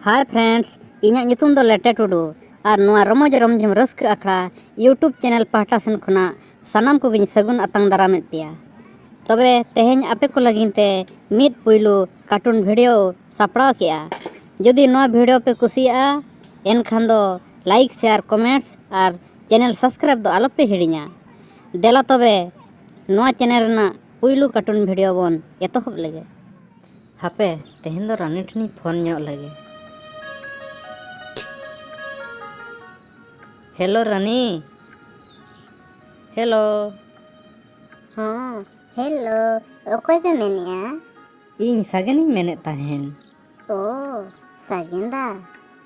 ᱦᱟᱭ friends ᱤᱧᱟᱹᱜ ᱧᱩᱛᱩᱢ ᱫᱚ ᱞᱮᱴᱮ ᱴᱩᱰᱩ ᱟᱨ ᱱᱚᱣᱟ ᱨᱚᱢᱚᱡᱽ ᱨᱚᱢᱡᱷᱚᱢ ᱨᱟᱹᱥᱠᱟᱹ ᱟᱠᱷᱲᱟ ᱤᱭᱩᱴᱩᱵᱽ ᱪᱮᱱᱮᱞ ᱯᱟᱦᱴᱟ ᱥᱮᱱ ᱠᱷᱚᱱᱟᱜ ᱥᱟᱱᱟᱢ ᱠᱚᱜᱮᱧ ᱥᱟᱹᱜᱩᱱ ᱟᱛᱟᱝ ᱫᱟᱨᱟᱢᱮᱫ ᱯᱮᱭᱟ ᱛᱚᱵᱮ ᱛᱮᱦᱮᱧ ᱟᱯᱮ ᱠᱚ ᱞᱟᱹᱜᱤᱫ ᱛᱮ ᱢᱤᱫ ᱯᱩᱭᱞᱩ ᱠᱟᱨᱴᱩᱱ ᱵᱷᱤᱰᱤᱭᱳ ᱥᱟᱯᱲᱟᱣ ᱠᱮᱜᱼᱟ ᱡᱩᱫᱤ ᱱᱚᱣᱟ ᱵᱷᱤᱰᱤᱭᱳ ᱯᱮ ᱠᱩᱥᱤᱭᱟᱜᱼᱟ ᱮᱱᱠᱷᱟᱱ ᱫᱚ ᱞᱟᱭᱤᱠ ᱥᱮᱭᱟᱨ ᱠᱚᱢᱮᱱᱴ ᱟᱨ ᱪᱮᱱᱮᱞ ᱥᱟᱵᱥᱠᱨᱟᱭᱤᱵᱽ ᱫᱚ ᱟᱞᱚᱯᱮ ᱦᱤᱲᱤᱧᱟ ᱫᱮᱞᱟ ᱛᱚᱵᱮ ᱱᱚᱣᱟ ᱪᱮᱱᱮᱞ ᱨᱮᱱᱟᱜ ᱯᱩᱭᱞᱩ ᱠᱟᱨᱴᱩᱱ ᱵᱷᱤᱰᱤᱭᱳ ᱵᱚᱱ ᱮᱛᱚᱦᱚᱵ ᱞᱮᱜᱮ ᱦᱟᱯᱮ ᱛᱮᱦᱮᱧ ᱫᱚ ᱨᱟᱱᱤ ᱴᱷᱮᱱᱤᱧ ᱯᱷᱳᱱ ᱧᱚᱜ ᱞᱮᱜᱮ ᱦᱮᱞᱳ ᱨᱟᱱᱤ ᱦᱮᱞᱳ ᱦᱚᱸ ᱦᱮᱞᱳ ᱚᱠᱚᱭ ᱯᱮ ᱢᱮᱱᱮᱜᱼᱟ ᱤᱧ ᱥᱟᱜᱮᱱᱤᱧ ᱢᱮᱱᱮᱫ ᱛᱟᱦᱮᱱ ᱚ ᱥᱟᱜᱮᱱᱫᱟ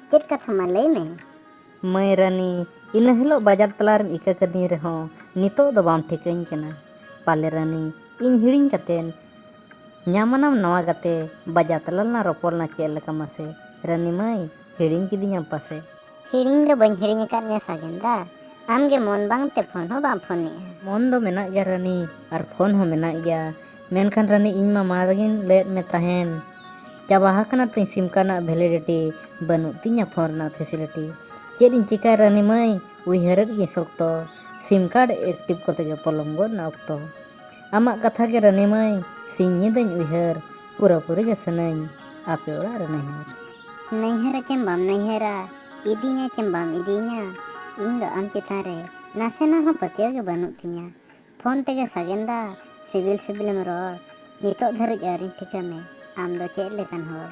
ᱪᱮᱫ ᱠᱟᱛᱷᱟ ᱢᱟ ᱞᱟᱹᱭ ᱢᱮ ᱢᱟᱹᱭ ᱨᱟᱱᱤ ᱤᱱᱟᱹ ᱦᱤᱞᱳᱜ ᱵᱟᱡᱟᱨ ᱛᱟᱞᱟ ᱨᱮᱢ ᱤᱠᱟᱹ ᱠᱟᱹᱫᱤᱧ ᱨᱮᱦᱚᱸ ᱱᱤᱛᱚᱜ ᱫᱚ ᱵᱟᱢ ᱴᱷᱤᱠᱟᱹᱧ ᱠᱟᱱᱟ ᱯᱟᱞᱮ ᱨᱟᱱᱤ ᱤᱧ ᱦᱤᱲᱤᱧ ᱠᱟᱛᱮᱱ ᱧᱟᱢᱟᱱᱟᱢ ᱱᱟᱣᱟ ᱜᱟᱛᱮ ᱵᱟᱡᱟᱨ ᱛᱟᱞᱟ ᱨᱮᱞᱟᱝ ᱨᱚᱯᱚᱲ ᱞᱮᱱᱟ ᱪᱮᱫ ᱞᱮᱠᱟ ᱢᱟᱥᱮ ᱨᱟᱱᱤ ᱢᱟᱹᱭ ᱦᱤᱲᱤᱧ ᱠᱤᱫᱤᱧᱟᱢ ᱯᱟᱥᱮ ᱦᱤᱲᱤᱧ ᱫᱚ ᱵᱟᱹᱧ ᱦᱤᱲᱤᱧ ᱟᱠᱟᱫ ᱢᱮᱭᱟ ᱥᱟᱜᱮᱱᱫᱟ ᱟᱢᱜᱮ ᱢᱚᱱ ᱵᱟᱝᱛᱮ ᱯᱷᱳᱱ ᱦᱚᱸ ᱵᱟᱢ ᱯᱷᱳᱱᱮᱜᱼᱟ ᱢᱚᱱ ᱫᱚ ᱢᱮᱱᱟᱜ ᱜᱮᱭᱟ ᱨᱟᱹᱱᱤ ᱟᱨ ᱯᱷᱳᱱ ᱦᱚᱸ ᱢᱮᱱᱟᱜ ᱜᱮᱭᱟ ᱢᱮᱱᱠᱷᱟᱱ ᱨᱟᱹᱱᱤ ᱤᱧ ᱢᱟ ᱢᱟᱲᱟᱝ ᱨᱮᱜᱮᱧ ᱞᱟᱹᱭᱟᱫ ᱢᱮ ᱛᱟᱦᱮᱱ ᱪᱟᱵᱟ ᱟᱠᱟᱱᱟ ᱛᱤᱧ ᱥᱤᱢ ᱠᱟᱨᱰ ᱨᱮᱱᱟᱜ ᱵᱷᱮᱞᱤᱰᱤᱴᱤ ᱵᱟᱹᱱᱩᱜ ᱛᱤᱧᱟ ᱯᱷᱳᱱ ᱨᱮᱱᱟᱜ ᱯᱷᱮᱥᱤᱞᱤᱴᱤ ᱪᱮᱫ ᱤᱧ ᱪᱤᱠᱟᱹᱭᱟ ᱨᱟᱹᱱᱤ ᱢᱟᱹᱭ ᱩᱭᱦᱟᱹᱨᱮᱫ ᱜᱤᱭᱟᱹᱧ ᱥᱚᱠᱛᱚ ᱥᱤᱢ ᱠᱟᱨᱰ ᱮᱠᱴᱤᱵᱷ ᱠᱚᱛᱮ ᱜᱮ ᱯᱚᱞᱚᱢ ᱜᱚᱫ ᱮᱱᱟ ᱚᱠᱛᱚ ᱟᱢᱟᱜ ᱠᱟᱛᱷᱟ ᱜᱮ ᱨᱟᱹᱱᱤ ᱢᱟᱹᱭ ᱥᱤᱧ ᱧᱤᱫᱟᱹᱧ ᱩᱭᱦᱟᱹᱨ ᱯᱩᱨᱟᱹ ᱯᱩᱨᱤ ᱜᱮ ᱥᱟᱱᱟᱹᱧ ᱟᱯᱮ ᱚᱲᱟᱜ ᱨᱮ ᱱᱟᱹᱭᱦᱟᱹᱨ ᱱᱟᱹᱭᱦᱟᱹᱨᱟ ᱪᱮᱢ ᱵᱟᱢ ᱱᱟᱹᱭᱦᱟᱹᱨᱟ ᱤᱫᱤᱧᱟ ᱪᱮᱢ ᱵᱟᱢ ᱤᱫᱤᱧᱟ ᱤᱧ ᱫᱚ ᱟᱢ ᱪᱮᱛᱟᱱ ᱨᱮ ᱱᱟᱥᱮᱱᱟᱜ ᱦᱚᱸ ᱯᱟᱹᱛᱭᱟᱹᱣ ᱜᱮ ᱵᱟᱹᱱᱩᱜ ᱛᱤᱧᱟ ᱯᱷᱳᱱ ᱛᱮᱜᱮ ᱥᱟᱜᱮᱱ ᱫᱟ ᱥᱤᱵᱤᱞ ᱥᱤᱵᱤᱞᱮᱢ ᱨᱚᱲ ᱱᱤᱛᱚᱜ ᱫᱷᱟᱹᱨᱤᱡ ᱟᱹᱣᱨᱤᱧ ᱴᱷᱤᱠᱟᱹ ᱢᱮ ᱟᱢ ᱫᱚ ᱪᱮᱫ ᱞᱮᱠᱟᱱ ᱦᱚᱲ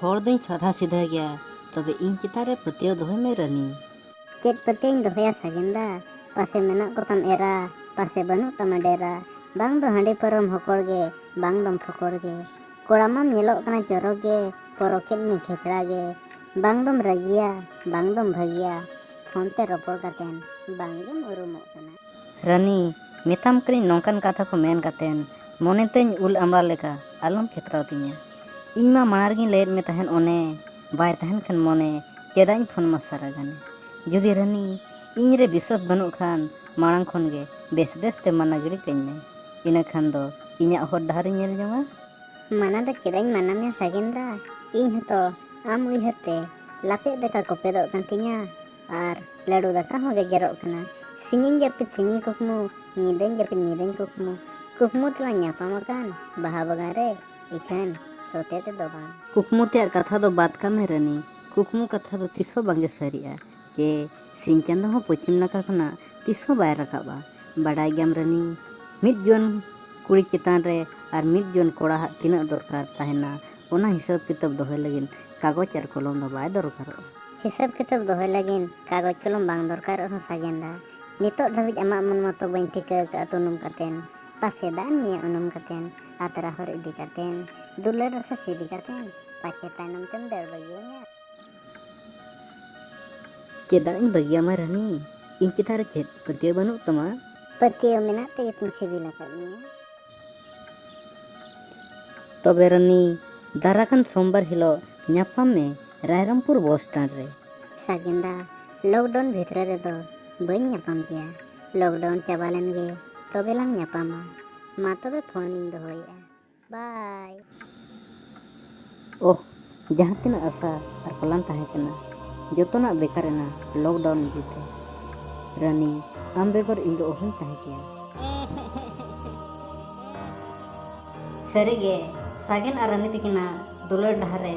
ᱦᱚᱲ ᱫᱚᱧ ᱥᱟᱫᱷᱟ ᱥᱤᱫᱷᱟᱹ ᱜᱮᱭᱟ ᱛᱚᱵᱮ ᱤᱧ ᱪᱮᱛᱟᱱ ᱨᱮ ᱯᱟᱹᱛᱭᱟᱹᱣ ᱫᱚᱦᱚᱭ ᱢᱮ ᱨᱟᱹᱱᱤ᱾ ᱪᱮᱫ ᱯᱟᱹᱛᱭᱟᱹᱣᱤᱧ ᱫᱚᱦᱚᱭᱟ ᱥᱟᱜᱮᱱ ᱫᱟ ᱯᱟᱥᱮ ᱢᱮᱱᱟᱜ ᱠᱚᱛᱟᱢ ᱮᱨᱟ ᱯᱟᱥᱮ ᱵᱟᱹᱱᱩᱜ ᱛᱟᱢᱟ ᱰᱮᱨᱟ ᱵᱟᱝ ᱫᱚ ᱦᱟᱺᱰᱤ ᱯᱟᱹᱣᱨᱟᱹᱢ ᱦᱚᱠᱚᱲ ᱜᱮ ᱵᱟᱝ ᱫᱚᱢ ᱯᱷᱚᱠᱚᱲ ᱜᱮ᱾ ᱠᱚᱲᱟ ᱢᱟᱢ ᱧᱮᱞᱚᱜ ᱠᱟᱱᱟ ᱪᱚᱨᱚᱠ ᱜᱮ ᱯᱚᱨᱚᱠᱮᱫ ᱢᱮ ᱠᱷᱮᱪᱲᱟ ᱜᱮ ᱵᱟᱝ ᱫᱚᱢ ᱨᱟᱹᱜᱤᱭᱟ ᱵᱟᱝ ᱫᱚᱢ ᱵᱷᱟᱹᱜᱤᱭᱟ ᱯᱷᱳᱱ ᱛᱮ ᱨᱚᱯᱚᱲ ᱠᱟᱛᱮ ᱵᱟᱝ ᱜᱮᱢ ᱩᱨᱩᱢᱚᱜ ᱠᱟᱱᱟ᱾ ᱨᱟᱹᱱᱤ, ᱢᱮᱛᱟᱢ ᱠᱟᱹᱱᱟᱹᱧ ᱱᱚᱝᱠᱟᱱ ᱠᱟᱛᱷᱟ ᱠᱚ ᱢᱮᱱ ᱠᱟᱛᱮ ᱢᱚᱱᱮ ᱛᱟᱹᱧ ᱩᱞ ᱟᱢᱲᱟ ᱞᱮᱠᱟ ᱟᱞᱚᱢ ᱠᱷᱮᱛᱨᱟᱣ ᱛᱤᱧᱟ᱾ ᱤᱧ ᱢᱟ ᱢᱟᱬᱟᱝ ᱨᱮᱜᱮᱧ ᱞᱟᱹᱭᱟᱫ ᱢᱮ ᱛᱟᱦᱮᱸᱫ ᱚᱱᱮ ᱵᱟᱭ ᱛᱟᱦᱮᱱ ᱠᱷᱟᱱ ᱢᱚᱱᱮ ᱪᱮᱫᱟᱜ ᱤᱧ ᱯᱷᱳᱱ ᱢᱟ ᱥᱟᱨᱟ ᱜᱟᱱᱮ᱾ ᱡᱩᱫᱤ ᱨᱟᱹᱱᱤ ᱤᱧ ᱨᱮ ᱵᱤᱥᱣᱟᱥ ᱵᱟᱹᱱᱩᱜ ᱠᱷᱟᱱ ᱢᱟᱬᱟᱝ ᱠᱷᱚᱱ ᱜᱮ ᱵᱮᱥ ᱵᱮᱥ ᱛᱮ ᱢᱟᱱᱟ ᱜᱤᱰᱤ ᱠᱟᱹᱧ ᱢᱮ ᱤᱱᱟᱹ ᱠᱷᱟᱱ ᱫᱚ ᱤᱧᱟᱹᱜ ᱦᱚᱨ ᱰᱟᱦᱟᱨᱤᱧ ᱧᱮᱞ ᱡᱚᱝᱟ ᱢᱟᱱᱟ ᱫᱚ ᱪᱮᱫᱟᱜ ᱤᱧ ᱢᱟᱱᱟ ᱢᱮᱭᱟ ᱥᱟᱜᱮᱱ ᱫᱟ ᱤᱧ ᱦᱚᱸᱛᱚ ᱟᱢ ᱩᱭᱦᱟᱹᱨ ᱛᱮ ᱞᱟᱯᱮᱫ ᱫᱟᱠᱟ ᱠᱚᱯᱮᱫᱚᱜ ᱠᱟᱱ ᱛᱤᱧᱟ ᱟᱨ ᱞᱟᱹᱰᱩ ᱫᱟᱠᱟ ᱦᱚᱸ ᱜᱮᱡᱮᱨᱚᱜ ᱠᱟᱱᱟ ᱥᱤᱧᱤᱧ ᱡᱟᱹᱯᱤᱫ ᱥᱤᱧᱤᱧ ᱠᱩᱠᱢᱩ ᱧᱤᱫᱟᱹᱧ ᱡᱟᱹᱯᱤᱫ ᱧᱤᱫᱟᱹᱧ ᱠᱩᱠᱢᱩ ᱠᱩᱠᱢᱩ ᱛᱮᱞᱟᱝ ᱧᱟᱯᱟᱢ ᱟᱠᱟᱱ ᱵᱟᱦᱟ ᱵᱟᱜᱟᱱ ᱨᱮ ᱤᱠᱷᱟᱹᱱ ᱥᱚᱛᱮ ᱛᱮᱫᱚ ᱵᱟᱝ ᱠᱩᱠᱢᱩ ᱛᱮᱭᱟᱜ ᱠᱟᱛᱷᱟ ᱫᱚ ᱵᱟᱫ ᱠᱟᱜ ᱢᱮ ᱨᱟᱹᱱᱤ ᱠᱩᱠᱢᱩ ᱠᱟᱛᱷᱟ ᱫᱚ ᱛᱤᱥ ᱦᱚᱸ ᱵᱟᱝᱜᱮ ᱥᱟᱹᱨᱤᱜᱼᱟ ᱡᱮ ᱥᱤᱧ ᱪᱟᱸᱫᱚ ᱦᱚᱸ ᱯᱚᱪᱷᱤᱢ ᱱᱟᱠᱷᱟ ᱠᱷᱚᱱᱟᱜ ᱛᱤᱥ ᱦᱚᱸ ᱵᱟᱭ ᱨᱟᱠᱟᱵᱼᱟ ᱵᱟᱰᱟᱭ ᱜᱮᱭᱟᱢ ᱨᱟᱹᱱᱤ ᱢᱤᱫ ᱡᱩᱣᱟᱹᱱ ᱠᱩᱲᱤ ᱪᱮᱛᱟᱱ ᱨᱮ ᱟᱨ ᱢᱤᱫ ᱡᱩᱣᱟᱹᱱ ᱠᱚᱲᱟ ᱦᱟᱜ ᱛᱤᱱᱟᱹᱜ ᱫᱚᱨᱠᱟᱨ ᱛᱟᱦᱮᱱᱟ ᱚᱱᱟ ᱦᱤᱥᱟᱹᱵ ᱠᱤᱛᱟᱹᱵ ᱫᱚᱦᱚᱭ ᱞᱟᱹᱜᱤᱫ ᱠᱟᱜᱚᱡᱽ ᱟᱨ ᱠᱚᱞᱚᱢ ᱫᱚ ᱵᱟᱭ ᱫᱚᱨᱠᱟᱨᱚᱜᱼᱟ ᱦᱤᱥᱟᱹᱵ ᱠᱤᱛᱟᱹᱵ ᱫᱚᱦᱚᱭ ᱞᱟᱹᱜᱤᱫ ᱠᱟᱜᱚᱡᱽ ᱠᱚᱞᱚᱢ ᱵᱟᱝ ᱫᱚᱨᱠᱟᱨ ᱨᱮᱦᱚᱸ ᱥᱟᱜᱮᱱᱫᱟ ᱱᱤᱛᱚᱜ ᱫᱷᱟᱹᱵᱤᱡ ᱟᱢᱟᱜ ᱢᱚᱱ ᱢᱟᱛᱚ ᱵᱟᱹᱧ ᱴᱷᱤᱠᱟᱹ ᱟᱠᱟᱫᱼᱟ ᱛᱩᱱᱩᱢ ᱠᱟᱛᱮᱱ ᱯᱟᱥᱮ ᱫᱟᱜ ᱮᱢ ᱧᱩᱭᱟ ᱩᱱᱩᱢ ᱠᱟᱛᱮᱱ ᱟᱛᱨᱟ ᱦᱚᱨ ᱤᱫᱤ ᱠᱟᱛᱮᱱ ᱫᱩᱞᱟᱹᱲ ᱨᱟᱥᱟ ᱥᱤᱫᱤ ᱠᱟᱛᱮᱱ ᱯᱟᱪᱮ ᱛᱟᱭᱱᱚᱢ ᱛᱮᱢ ᱫᱟᱹᱲ ᱵᱟᱹᱜᱤᱭᱟᱹᱧᱟ ᱪᱮᱫᱟᱜ ᱤᱧ ᱵᱟᱹᱜᱤᱭᱟᱢᱟ ᱨᱟᱹᱱᱤ ᱤᱧ ᱪᱮᱛᱟᱱ ᱨᱮ ᱪᱮᱫ ᱯᱟᱹᱛᱭᱟᱹᱣ ᱵᱟᱹᱱᱩᱜ ᱛᱟᱢᱟ ᱯᱟᱹᱛᱭᱟᱹᱣ ᱢᱮᱱᱟᱜ ᱛᱮᱜᱮ ᱛᱤᱧ ᱥᱤᱵᱤᱞ ᱟᱠᱟᱫ ᱢᱮᱭᱟ ᱛᱚᱵᱮ ᱨᱟᱹᱱᱤ ᱫᱟᱨᱟ ᱠᱟᱱ ᱥᱳᱢᱵᱟᱨ ᱦᱤᱞᱳᱜ ᱧᱟᱯᱟᱢ ᱢᱮ ᱨᱟᱭᱨᱚᱢᱯᱩᱨ ᱵᱚᱥ ᱥᱴᱮᱱᱰ ᱨᱮ ᱥᱟᱜᱮᱱᱫᱟ ᱞᱚᱠᱰᱟᱣᱩᱱ ᱵᱷᱤᱛᱨᱤ ᱨᱮᱫᱚ ᱵᱟᱹᱧ ᱧᱟᱯᱟᱢ ᱜᱮᱭᱟ ᱞᱚᱠᱰᱟᱣᱩᱱ ᱪᱟᱵᱟ ᱞᱮᱱᱜᱮ ᱛᱚᱵᱮ ᱞᱟᱝ ᱧᱟᱯᱟᱢᱟ ᱢᱟ ᱛᱚᱵᱮ ᱯᱷᱳᱱᱤᱧ ᱫᱚᱦᱚᱭᱮᱫᱼᱟ ᱵᱟᱭ ᱳᱦ ᱡᱟᱦᱟᱸ ᱛᱤᱱᱟᱹᱜ ᱟᱥᱟ ᱟᱨ ᱯᱟᱞᱟᱱ ᱛᱟᱦᱮᱸ ᱠᱟᱱᱟ ᱡᱚᱛᱚᱱᱟᱜ ᱵᱮᱠᱟᱨ ᱮᱱᱟ ᱞᱚᱠᱰᱟᱣᱩᱱ ᱤᱫᱤ ᱛᱮ ᱨᱟᱱᱤ ᱟᱢ ᱵᱮᱜᱚᱨ ᱤᱧ ᱫᱚ ᱚᱦᱚᱧ ᱛᱟᱦᱮᱸ ᱠᱮᱭᱟ ᱥᱟᱹᱨᱤᱜᱮ ᱥᱟᱜᱮᱱ ᱟᱨ ᱨᱟᱱᱤ ᱛᱟᱹᱠᱤᱱᱟᱜ ᱫᱩᱞᱟᱹᱲ ᱰᱟᱦᱟᱨ ᱨᱮ